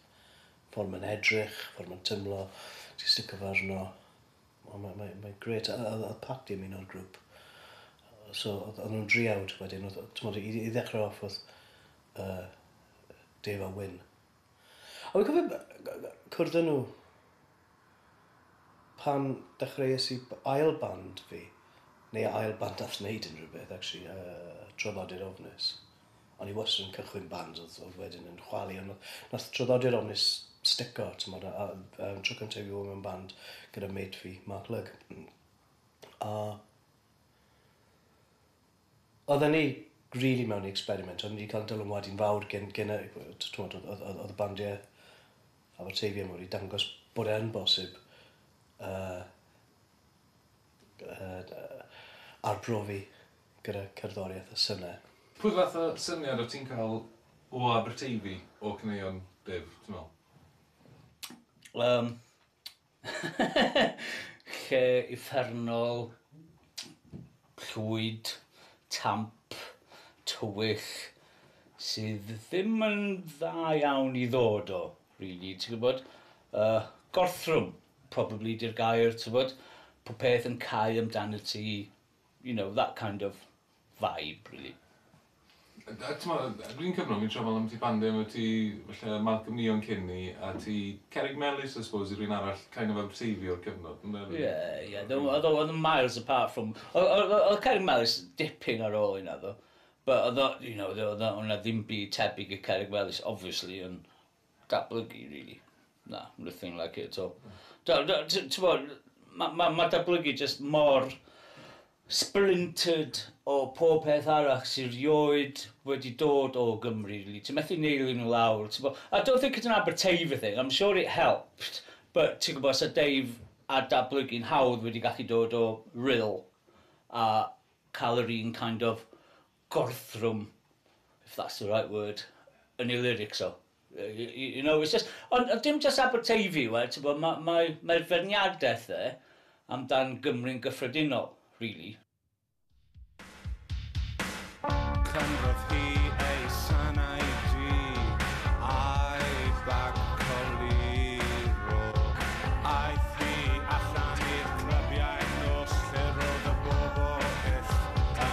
Ffordd mae'n edrych, ffordd mae'n teimlo, ti'n sticio fe arno, o mae mae mae'n grêt a a oedd Patti yn un o'r grŵp so oedd oedd nhw'n driawd wedyn oedd oedd t'mod i i ddechrau off oedd yy Dave a Wyn. A fi'n cofio b- yy g- g- cwrdd â nhw Pan dechreuais i b- ail band fi, neu ail band nath neud unrhyw beth actually, yy Traddodiad Ofnus. O'n i wastad yn cychwyn bands o'dd o'dd wedyn yn chwalu on' nath nath Traddodiad Ofnus stico t'mod a a yy yym tro cynta i fi fod mewn band gyda mate fi Mark Lugg a Oedden ni rili mewn i experiment, oedden ni 'di cael dylanwad un fawr gen gen y t- t'mod oedd oedd oedd y bandiau Aberteifi a mwy wedi dangos bod e yn bosib yy yy yy arbrofi gyda cerddoriaeth a synau. Pwy fath o syniad o't ti'n cael o Aberteifi, o caneuon Dyf, ti'n meddwl? Yym. Lle uffernol, llwyd, tamp, tywyll, sydd ddim yn dda iawn i ddod o, rili, ti'n gwybod. Yy, gorthrwm, probably, 'di'r gair, ti'n gwybod. Popeth yn cau amdanat ti, you know, that kind of Vibe rili. A t'mo' yy yr un cyfnod fi'n trio me'wl ambyti bande odd ti falle Malcolm Young cyn 'ny a ti Cerrig Melys I suppose yw'r un arall kind of outsavey o'r cyfnod on'd oedd? Ie ie do- odd o odd yn miles apart from o- o- o- odd Cerrig Melys dipyn ar ôl hynna ddo' but odd o you know odd o odd o o' 'na ddim byd tebyg i Cerrig Melys obviously on' Datblygu rili. Na, nothing like it at all. Da- da- t- t'mod ma' ma' ma' datblygu jyst mor splintered o pob peth arall sy rioed wedi dod o Gymru rili. Ti methu neilu nhw lawr t'bo'. I don't think it's an Aberteifi thing, I'm sure it helped but ti'n gwybod 'sa Dave a datblygu'n hawdd wedi gallu dod o Rhyl a cael yr un kind of gorthrwm if that's the right word yn ei lyrics o. You know, it's just... Ond dim just Aberteifi yw e, ti'n gwybod, mae mae mae feirniadaeth e amdan Gymru'n gyffredinol, really. Canfodd hi ei sanau du a'i fag coluro Aeth hi allan i'r clybiau nos lle roedd y bobl byth yn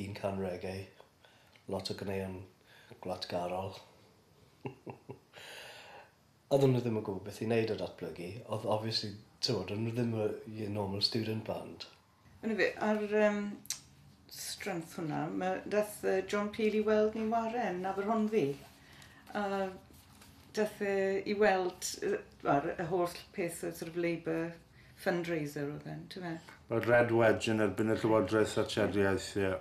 Un can reggae, lot o ganeuon gwlatgarol. Oedden nhw ddim yn gwybod beth i wneud â datblygu, oedd obviously, timod, o'n nhw ddim y your normal student band. Eniwe, ar yym strength hwnna, ma'... daeth yy John Peel i weld ni 'ware yn Aberhonddu, a daeth e i weld yy wel y holl peth oedd sort of Labour fundraiser oedd e'n, ti'n fe? Wel, Red Wedge yn erbyn y Llywodraeth Thatcheriaeth, ie.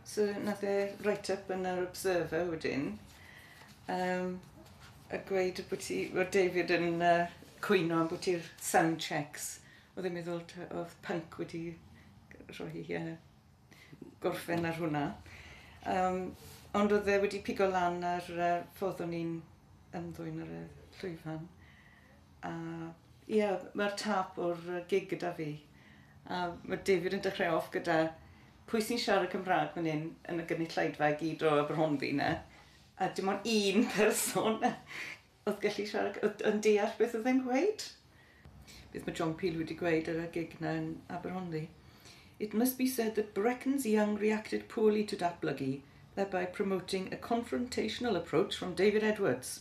So, nath e write up yn yr Observer wedyn, um, a gweud bod ti, bod David yn uh, cwyno am bod ti'r sound checks. Oedd e'n meddwl oedd punk wedi rhoi uh, gorffen ar hwnna. Um, ond oedd e wedi pigo lan ar uh, ffordd o'n i'n ymddwyn ar y llwyfan. A ie, mae'r tâp o'r gig gyda fi. A mae David yn dechrau off gyda pwy sy'n siarad Cymraeg fan hyn yn y gynulleidfa i gyd o Aberhonddu na. A dim ond un person oedd gallu siarad, yn deall beth oedd e'n gweud. Beth mae John Peel wedi gweud ar y gig na yn Aberhonddu. It must be said that Brecons Young reacted poorly to datblygu, thereby promoting a confrontational approach from David Edwards.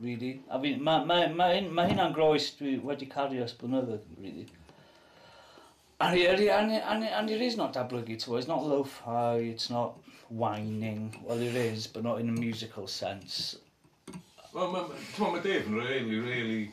Really. A fi, mae ma, ma, ma hynna'n groes dwi wedi cario ys blynyddoedd, really. And he, and, he, and, he, and, he, and it is not dablygu, to, it's not lo-fi, it's not whining. Well, it is, but not in a musical sense. Wel, mae ma, ma Dave yn really, really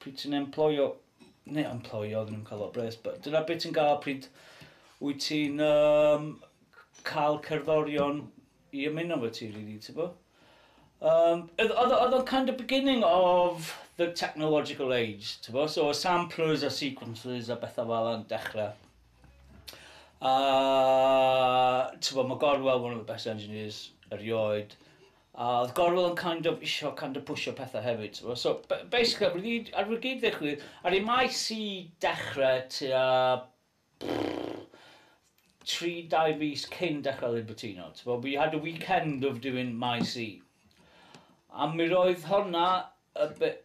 Pryd ti'n emploio, neu emploio, oedden nhw'n cael o bres, but dyna be ti'n gael pryd wyt ti'n um, cael cerddorion i ymuno fo ti, really, ti'n bo? Um, oedd o'n kind of beginning of the technological age, ti'n bo? So, samplers a sequences a bethau fel yna'n dechrau. A, ti'n bo, mae Gorwell, one of the best engineers erioed, A oedd Gorwel yn kind of isio kind of pwsio pethau hefyd t'bo'. So b- basically ar ôl i gyd ar ôl i gyd ddigwydd aru Maes i dechre tua tri dau fis cyn dechre Libertino t'bo' we had a weekend of doing Maes I. A mi roedd honna a bit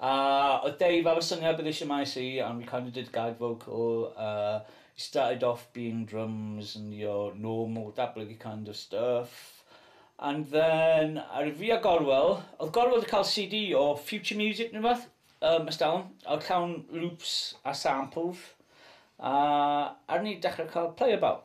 Uh, oedd Dave ar y syngau bydd eisiau mai si and we kind of did gag vocal uh, he started off being drums and your normal dablygu kind of stuff and then ar fi a Gorwel oedd Gorwel wedi cael CD o Future Music neu beth um, ystawn oedd llawn loops a samples a ar ni dechrau cael play about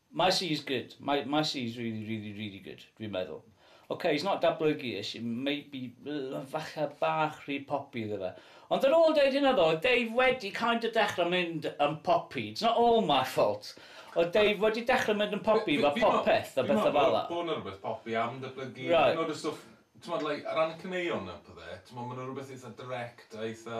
Mae Sees good, mae mae Sees really really really good, dwi'n meddwl. Ok, he's not datblygu-ish, it may be yy falle bach rhy poppy iddo fe. Ond ar ôl deud hynna ddo, oedd Dave wedi kind of dechrau mynd yn poppy, it's not all my fault, oedd Dave wedi dechrau mynd yn poppy efo popeth a bethau fel 'na. Fi meddwl bod 'na rywbeth poppy am datblygu, hyd yn oed y stwff, timod, like, o ran y caneuon a pethe, timod, ma' 'na rywbeth eitha direct a eitha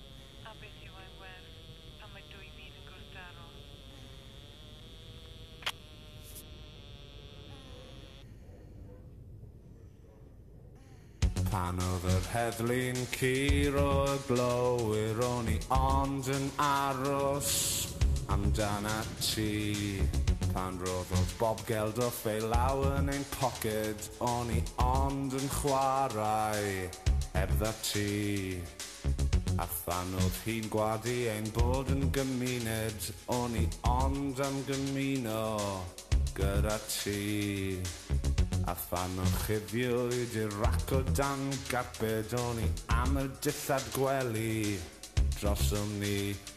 a beth yw ein werth pan mae dwy fyd yn gwrthdaro? Pan oedd yr heddlu'n curo y glowyr o'n i ond yn aros amdanat ti Pan roddodd Bob Geldof fe law yn ein poced o'n i ond yn chwarae heb dda ti A phan o'ch chi'n gwadu ein bod yn gymuned, o'n i ond am gymuno gyda ti. A phan orchuddiwyd i'r rac o dan garped, o'n i am y dillad gwely drosom ni.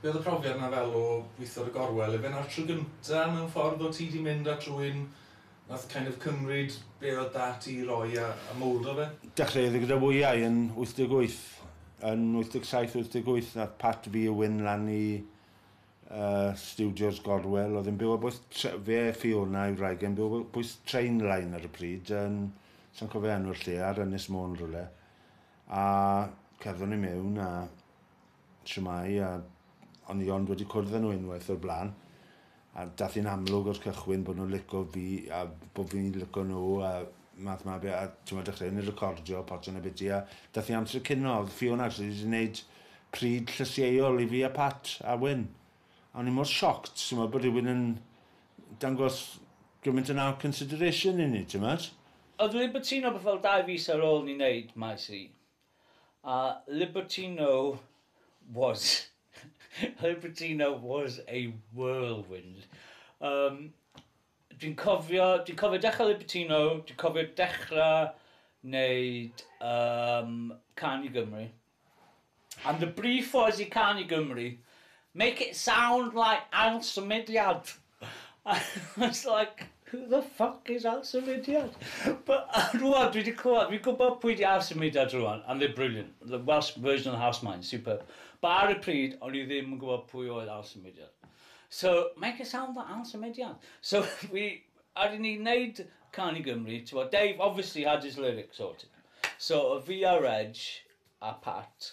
Be oedd y profiad na fel o weithio ar y gorwel? Efe na'r tro gynta mewn ffordd o ti di mynd at rwy'n nath kind of cymryd be oedd da ti i roi a, a mowldo fe? Dechreuodd i gyda wyau yn 88, yn 87, 88 nath Pat fi a Wyn lan i uh, Studios Gorwel, oedd yn byw a bwys, fe Fiona i wraig yn byw a bwys train line ar y pryd, yn, sa'n cofio enw'r lle, ar Ynys Môn rhywle. A cerddon ni mewn a Shwmae, a o'n i ond wedi cwrdd â nhw unwaith o'r blaen. A dath hi'n amlwg o'r cychwyn bod nhw'n lico fi a bod fi'n lico nhw a math ma be. A t'mod dechreuon ni recordio Potsian a Biti a dath i amser cino o'dd Fiona actually wedi neud pryd llysieuol i fi a Pat a Wyn. A o'n i mor shocked t'mod bod rhywun yn dangos gymaint yna o consideration i ni t'mod? Oedd rywun cytuno bod fel dau fis ar ôl ni neud Maes E, A Libertino was Libertino was a whirlwind. Um, dwi'n cofio, dwi'n cofio dechrau Libertino, dwi'n cofio dechrau wneud um, Can i Gymru. And the brief was i Can i Gymru, make it sound like ail symudiad. I was like, who the fuck is Al Symudiad? But rwan dwi 'di clywed, fi'n gwybod pwy 'di Al Symudiad rwan, and they're brilliant. The Welsh version of the House Mine, superb. But ar y pryd, o'n i ddim yn gwybod pwy oedd Al Symudiad. So, make a sound for Al Symudiad. So, fi, ar i ni wneud Can i Gymru, ti'n Dave obviously had his lyrics sorted. So, oedd fi a Reg a Pat,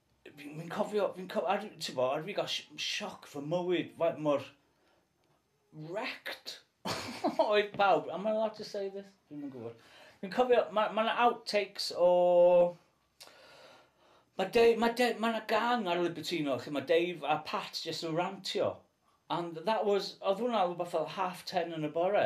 Fi'n fi cofio, fi'n cofio, ar, ti'n bo, ar fi gael sioc fy mywyd, faint mor wrecked oedd pawb. Am I allowed to say this? Fi'n yn gwybod. Fi'n cofio, mae ma outtakes o... Mae Dave, mae Dave, mae yna gang ar Libertino, chi mae Dave a Pat jyst yn rantio. And that was, oedd hwnna rhywbeth fel half ten yn y bore.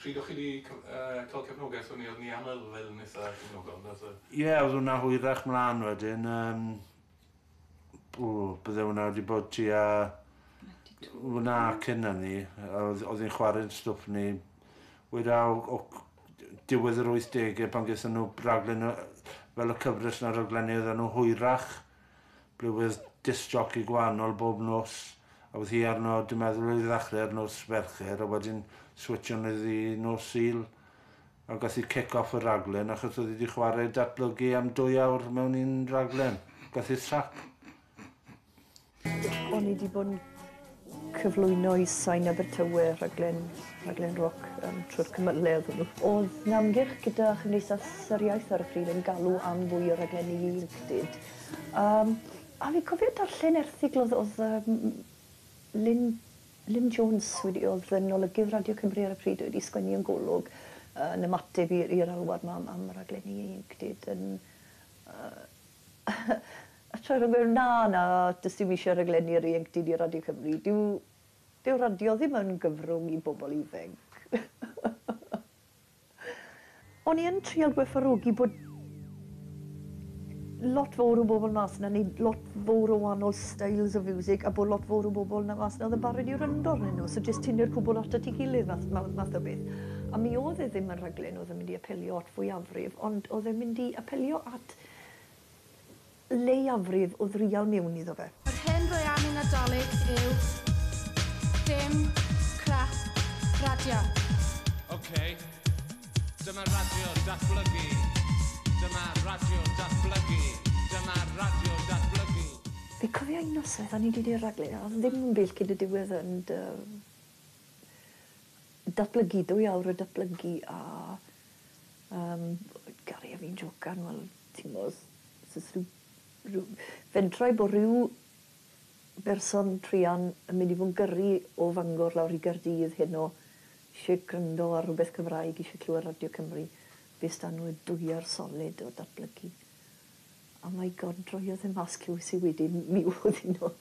Pryd o'ch chi 'di cael cefnogaeth o ni? Oedden ni am yfed yn eitha cefnogol yn doedd? Ie, oedd hwnna hwyrach mlaen wedyn, yym o bydde hwnna wedi bod tua hwnna cyn hynny, oedd oedd hi'n chwarae'n stwff ni weda o diwedd yr wythdegau pan gaethon nhw raglen fel y cyfres 'na raglenni oedden nhw hwyrach Glywes disc joci gwahanol bob nos a oedd hi arno, dwi'n meddwl oedd hi ddechrau ar nos Fercher a wedyn switsio nhw iddi nos Sul ac aeth hi kick off y rhaglen achos oedd hi wedi chwarae datblygu am dwy awr mewn un rhaglen ac aeth hi'r sac. O'n i 'di bod yn Cyflwyno i Sain Abertawe rhaglen, rhaglen roc um, trwy'r cymyledd hwnnw. Oedd na ymgyrch gyda Chymdeithas yr Iaith ar y pryd yn galw am fwy o raglenni ieuenctid. Um, a fi'n cofio darllen erthigl oedd, oedd um, Lynn Lynn Jones wedi oedd yn olygydd Radio Cymru ar y pryd wedi sgwennu yn golwg uh, yn ymateb i'r alwad yma am, am raglenni ieuenctid yn uh, A tra rwy'n gweud, na, na, does dim eisiau rhaglenni'r ieuenctid i Radio Cymru, dyw, dyw radio ddim yn gyfrwng i bobl ifainc. O'n i yn trial gwerthfawrogi bod lot fowr o bobl mas 'na yn neud lot fowr o wahanol styles o fiwsig a bod lot fowr o bobl 'na mas 'na oedd yn barod i wrando arnyn nhw, so jyst tynnu'r cwbl at at ei gilydd fath, ma- math o beth. A mi oedd e ddim yn rhaglen oedd yn mynd i apelio at fwyafrif, ond oedd e'n mynd i apelio at lleiafrif o ddrial mewn iddo fe. Yr hyn rwy am i Nadolig yw dim crap radio. Ok, dyma radio datblygu, dyma radio datblygu, dyma radio datblygu. Fi cofio un noson o'n i di neud raglen a odd ddim byd cyn y diwedd yn dy datblygu dwy awr o datblygu a Yym Gary a fi'n jocan wel ti'n gwbo os os o's ryw ryw fentrau bo' ryw berson druan yn mynd i fo' yn gyrru o Fangor lawr i Gaerdydd heno isie gryndo ar rwbeth Cymraeg isie clywed Radio Cymru be' s'da n'w y dwyer solid o datblygu. A my God droiodd e mas clywes i wedyn mi o'dd un o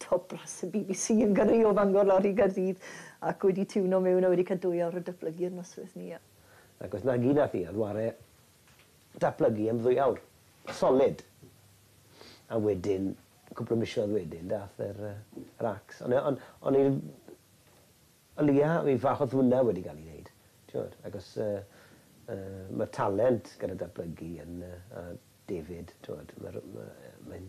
Top brass y bbc yn gyrru o Fangor lawr i Gaerdydd ac wedi tiwno mewn a wedi cael dwy awr o datblygu i'r noswyth ni. Ac os nagi nath hi a Dware datblygu am ddwy awr solid a wedyn cwpl o misoedd wedyn dath yr yr acs on' on' on' i'r o leia fi falch o'dd hwnna wedi ga'l i neud t'mod agos yy yy ma'r talent gyda datblygu yn yy a David t'mod ma'r ma' yy mae'n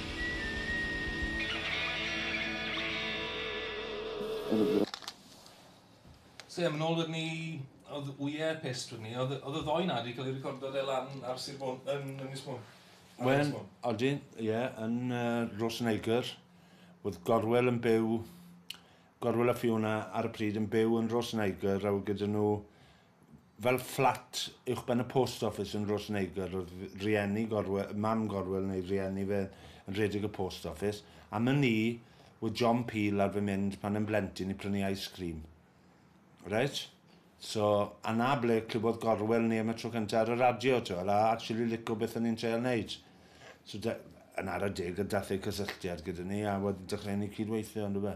So ie, mae'n ôl wedyn ni, oedd Wye pissed wedyn ni, oedd oedd y ddou na wedi cael ei recordo de lan ar Sir Fôn, yn Ynys Môn? Wel, odyn, ie, yn uh, Roseneigr, oedd Gorwel yn byw, Gorwel a Fiona ar y pryd yn byw yn Roseneigr, a oedd gyda nhw Fel fflat uwchben y post office yn Rhos Neigr oedd rhieni Gorwel, mam Gorwel neu rhieni fe yn rhedeg y post office. Am wn i, wedd John Peel ar fy mynd pan yn blentyn i prynu ice cream. Reit? So, a 'na ble clywodd Gorwel ni am y tro cynta ar y radio, t'wel, a actually lico beth o'n i'n treial neud. So da- yn ara deg, dath e i cysylltiad gyda ni a wedyn dechreuon ni cyd-weithio, yndyfe?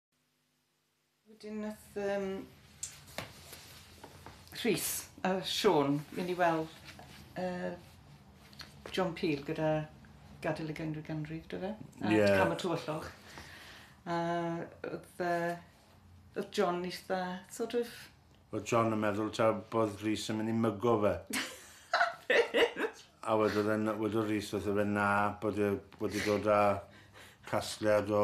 Wedyn nath um, Rhys a Sean mynd i weld uh, John Peel gyda gadael y genrif ganrif, dwi fe? A yeah. cam y tywyllwch. A oedd, uh, oedd John eitha, sort of... Oedd John yn meddwl ta bod Rhys yn mynd i mygo fe. a wedodd e'n, wedodd Rhys wrth fe na, bod e wedi dod â casgliad o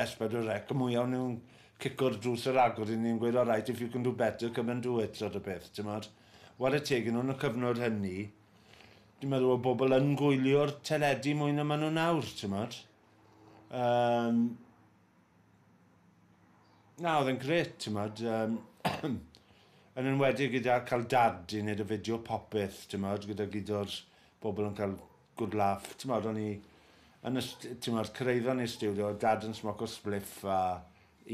Ers bod y wreck mwya o nhw'n cico'r drws ar agor i ni yn gweud alright if you can do better come and do it sort of peth timod. Ware teg i nhw yn y cyfnod hynny dwi'n meddwl oedd bobl yn gwylio'r teledu mwy na maen nhw nawr timod. Yym na oedd e'n grêt timod yym yn enwedig gyda cael dad i wneud y fideo popeth timod gyda gyd o'r bobl yn cael good laugh, t'mod, o'n i yn y st- t'mod, cyrhaeddon ni'r stiwdio, oedd Dad yn smoco spliff a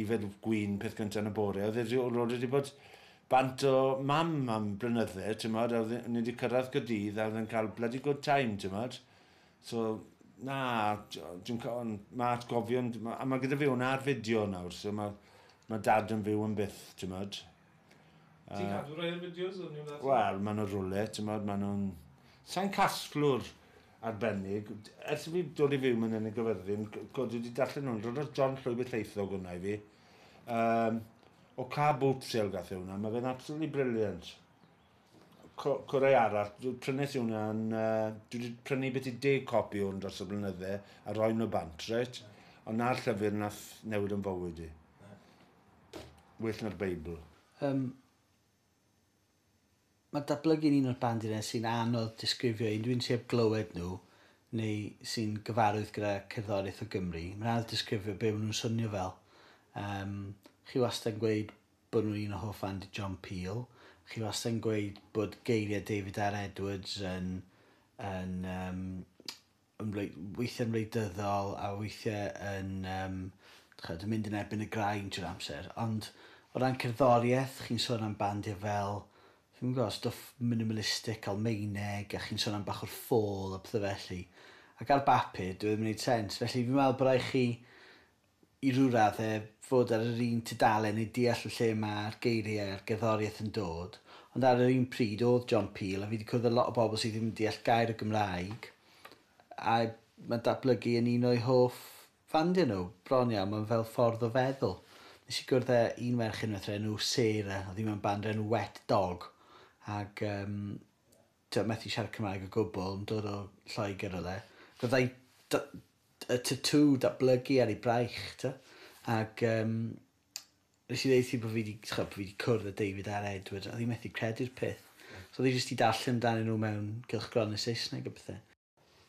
yfed gwin peth gynta yn y bore, oedd e 'di... o'dd e 'di bod bant o Mam am blynydde, t'mod, a oedd e... ni 'di cyrraedd Caerdydd a oedd e'n cael bloody good time, t'mod. So, na, d- dwi'n ca- on', ma' atgofion d- ma'... A ma' gyda fi wnna ar fideo nawr, so ma' ma' Dad yn fyw yn byth, t'mod. Ti'n cadw rhai o'r fideos yn New Latin? Wel, maen nhw'n rwle, ti'n modd, maen nhw'n... Sa'n casglwr arbennig. Ers i fi dod i fyw mewn yn y gyfyrddin, god wedi darllen nhw'n rhan o'r John Llwyd y Lleithog hwnna i fi. Um, o ca boot sale gath e hwnna, mae fe'n absolutely brilliant. Co Corau arall, prynes i hwnna yn... Uh, dwi wedi prynu beth i deg copi o'n dros y blynydde a roi nhw bant, reit? Ond na'r llyfr nath newid yn fywyd i. well na'r Beibl. Yym, mae datblygu'n un o'r bandiau sy'n anodd disgrifio i unrhyw un sydd heb glywed nhw neu sy'n gyfarwydd gyda cerddoriaeth o Gymru. Mae'n anodd disgrifio be maen nhw'n swnio fel. Um, chi wastad yn gweud bod nhw'n un o hoff fandi John Peel. Chi wastad yn gweud bod geiriau David R Edwards yn, yn um, yn reit... weithiau'n wleidyddol a weithiau yn yym chimod yn mynd yn erbyn y graen trwy'r amser. Ond o ran cerddoriaeth, chi'n sôn am bandiau fel dwi'm yn gwybod, stwff minimalistic Almaeneg a chi'n sôn am bach o'r ffôl a petha felly. Ac ar bapur, dyw e ddim yn wneud sens. Felly fi'n meddwl bod raid chi i ryw raddau, fod ar yr un tudalen i deall y lle mae'r geiriau a'r gerddoriaeth yn dod, ond ar yr un pryd, oedd John Peel, a fi 'di cwrdd â lot o bobl sydd ddim yn deall gair o Gymraeg, a mae datblygu yn un o'u hoff fandiau nhw, bron iawn, mae'n fel ffordd o feddwl. Nes i gwrdd â un merch unwaith o'r enw Sarah, oedd hi mewn band o'r enw Wet Dog, ac um, ti'n methu siarad Cymraeg o gwbl, yn dod o Lloegr oedd e. Fyddai y tatŵ datblygu ar ei braich, t'o'? Ag yym, nes i ddeud wrthi bo' fi 'di, t'ch'o', bo' fi 'di cwrdd â David a'r Edward, a o'dd 'i methu credu'r peth. So o'dd 'i jyst 'di darllen amdanyn nhw mewn cylchgronau Saesneg a pethe.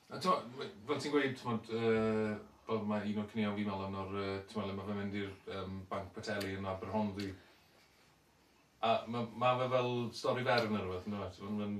A t'mo', we- fel ti'n gweud, t'mod, yy, fel ma' un o'r caneuon fi'n meddwl amdano nawr, yy, t'mo' le ma' fe'n mynd i'r yym Banc Poteli yn Aberhonddu. A ma' ma' fe fel stori fer ne' rwbeth yndyw e? T'mo' ma'n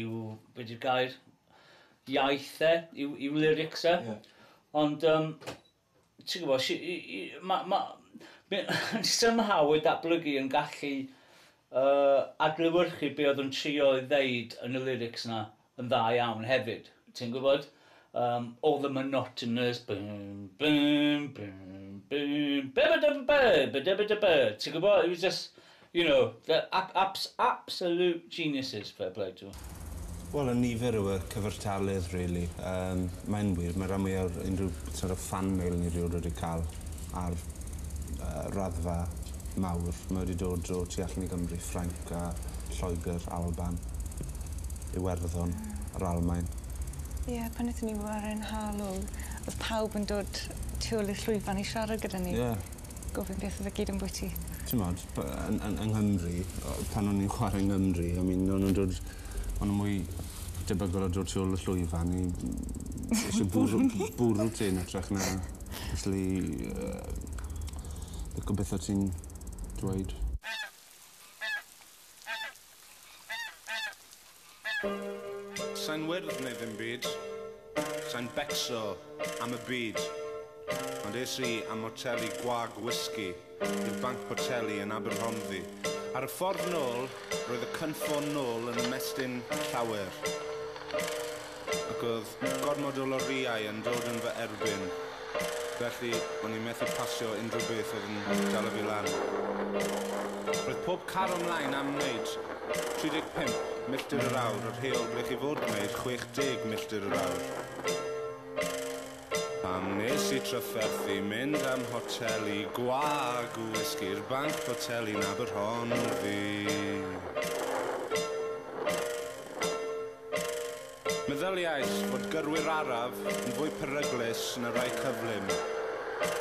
yw, be di'r gair, iaith e, yw, yw lyrics e. Yeah. Ond, um, ti'n gwybod, mae... Ma, Mae'n somehow ei datblygu yn gallu uh, adlywyrchu be oedd yn trio ei ddeud yn y lyrics na yn dda iawn hefyd. Ti'n gwybod? Um, all the monotonous bum bum bum bum bebedebebebedebedebe. Ti'n gwybod? It was just, you know, the ab abs absolute geniuses, fair play to them. Wel, y nifer yw y cyfartaledd, really. Um, Mae'n wir, mae rhan mwyaf unrhyw sort of fan mail ni rhywun wedi cael ar uh, raddfa mawr. Mae wedi dod o tu allan i Gymru, Ffrainc a Lloegr, Alban, Iwerddon, yr Almain. Ie pan nethon ni waren Harlow o'dd pawb yn dod tu ôl i'r llwyfan i siarad gyda ni. Ie. Gofyn beth o'dd e gyd ambwyty. T'mod by- yy yn yn yng Nghymru o- pan o'n i'n chware yng Ngymru I mean o'n nw'n dod ma' n'w mwy debygol o dod tu ôl y llwyfan i isio bwrw bwrw ti yn ytrach na acshyli yy lico beth o' ti'n dweud. Sa'n wyrdd neu ddim byd, sa'n becso am y byd, ond es i am moteli gwag whisky i'r Banc Boteli yn Aberhonddu. Ar y ffordd nôl, roedd y cynffon nôl yn ymestyn llawer. ac oedd gormod o lorïau yn dod yn fy erbyn, felly o'n i'n methu pasio unrhyw beth oedd yn dala fi lan. Roedd pob car o mlaen am wneud 35 milltir yr awr, yr heol ble chi fod gwneud 60 milltir yr awr. Pam wnes i trafferthu mynd am hotel i gwag wisgi'r banc boteli 'na by rhonddu? Meddyliais fod gyrwyr araf yn fwy peryglus na rhai cyflym.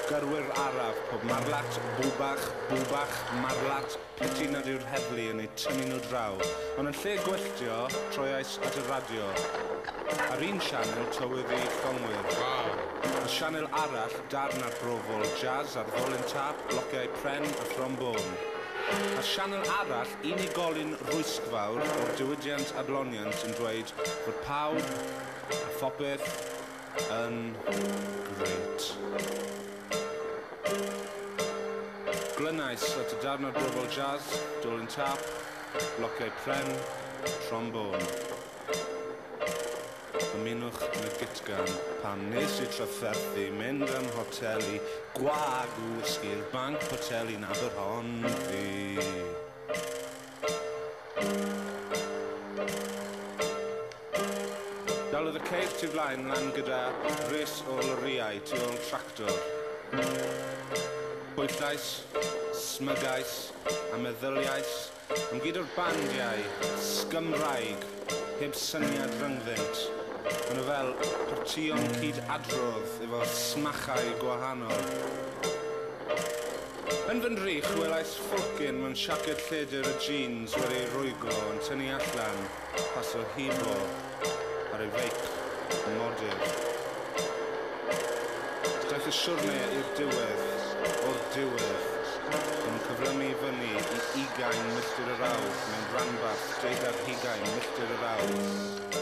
Gyrwyr araf, pob marlat, bwbach, bwbach, marlat, piti nad yw'r heddlu yn eu tynnu nhw draw. Ond yn lle gwylltio, troiais at y radio. Ar un sianel, tywydd i Llongwyr. Ar sianel arall, darn arbrofol, jazz ar ddolen tâp, blociau pren a thrombôn. Ar sianel arall, Unigolyn rhwystfawr o'r diwydiant adloniant yn dweud bod pawb a phopeth yn grêt. Glynais at y darn ar Gofal Jazz, Dolin Tâp, Blociau Pren, Trombôn. Ymunwch yn y gytgan. Pan wnes i trafferthu mynd â'm hotel i gwag wysgi'r banc poteli nad oedd hon fi. Dalodd y ceir tu flaen lan gyda rhys o lorïau tu ôl tractor. Bwyllais, smygais a meddyliais Ond gyda'r bandiau sgymraeg heb syniad rhyngddynt, maen nhw fel partïon cyd-adrodd efo smachau gwahanol. Yn fy ndrych, welais ffwrcyn mewn siaced lledr a jîns wedi ei rwyglo yn tynnu allan. Pasio hibo ar ei feic yn modur. Daeth y siwrne i'r diwedd, o'r diwedd. Yn cyflymu i fyny i ugain milltir yr awr mewn rhanbarth deuddeg hugain milltir yr awr.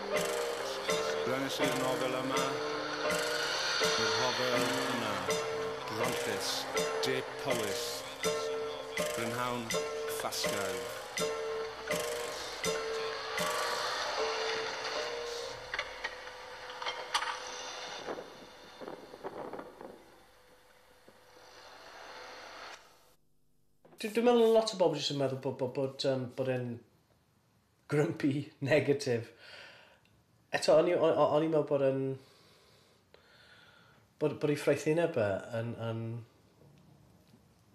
Brenis i'r nofel yma, y rhofel yna, Bronllys, De Powys, Brynhawn, Ffasgau. Dwi'n meddwl lot o bobl jyst yn meddwl bod bod bod yym bod e'n Grumpy negatif. Eto o'n i o- o- o'n i'n meddwl bod yn... bod bod ei ffraethineb e yn yn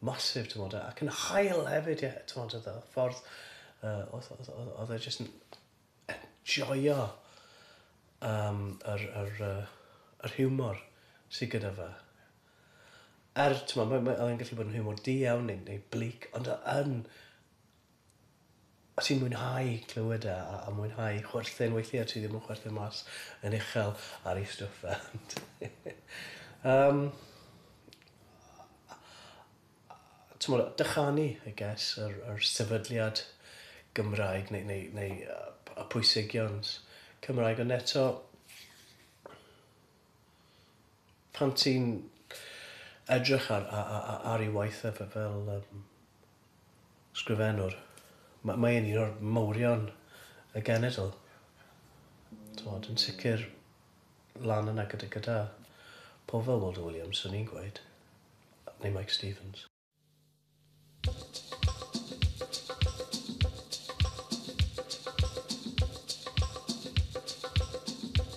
massive t'mod ac yn hael hefyd ie t'mod oedd y ffordd yy oedd oedd oedd oedd e jyst yn enjoio yym yr yr yy yr hiwmor sy gyda fe. Er t'mod mae mae oedd e'n gallu bod yn hiwmor di-iawn neu neu bleak ond oedd yn Os ti'n mwynhau clywed e a a mwynhau chwerthin weithiau ti ddim yn chwerthin mas yn uchel ar ei stwff e ond yym t'mod dychanu I guess yr yr sefydliad Gymraeg neu neu neu yy y pwysigions Cymraeg ond eto pan ti'n edrych ar a- a- a- ar ei waith e fe- fel yym Sgrifennwr. M- mae e'n un o'r mawrion y genedl. T'mod, yn sicr lan yna gyda gyda pobl fel Waldo Williams, swn i'n gweud, neu Mike Stevens.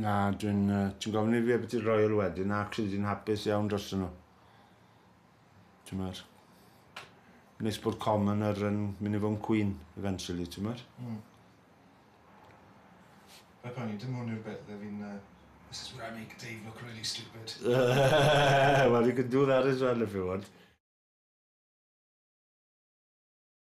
Na, dwi'n... Uh, ti'n gofyn i fi beth i'r Royal wedyn, na, cri dwi'n hapus iawn dros nhw. Ti'n mwyn? Nes bod common ar yn mynd i fod yn cwyn, eventually, ti'n mwyn? Mm. Fe pan i, dim hwn yw'r beth, fe fi'n... Uh, this is where I make Dave look really stupid. well, you can do that as well if you want.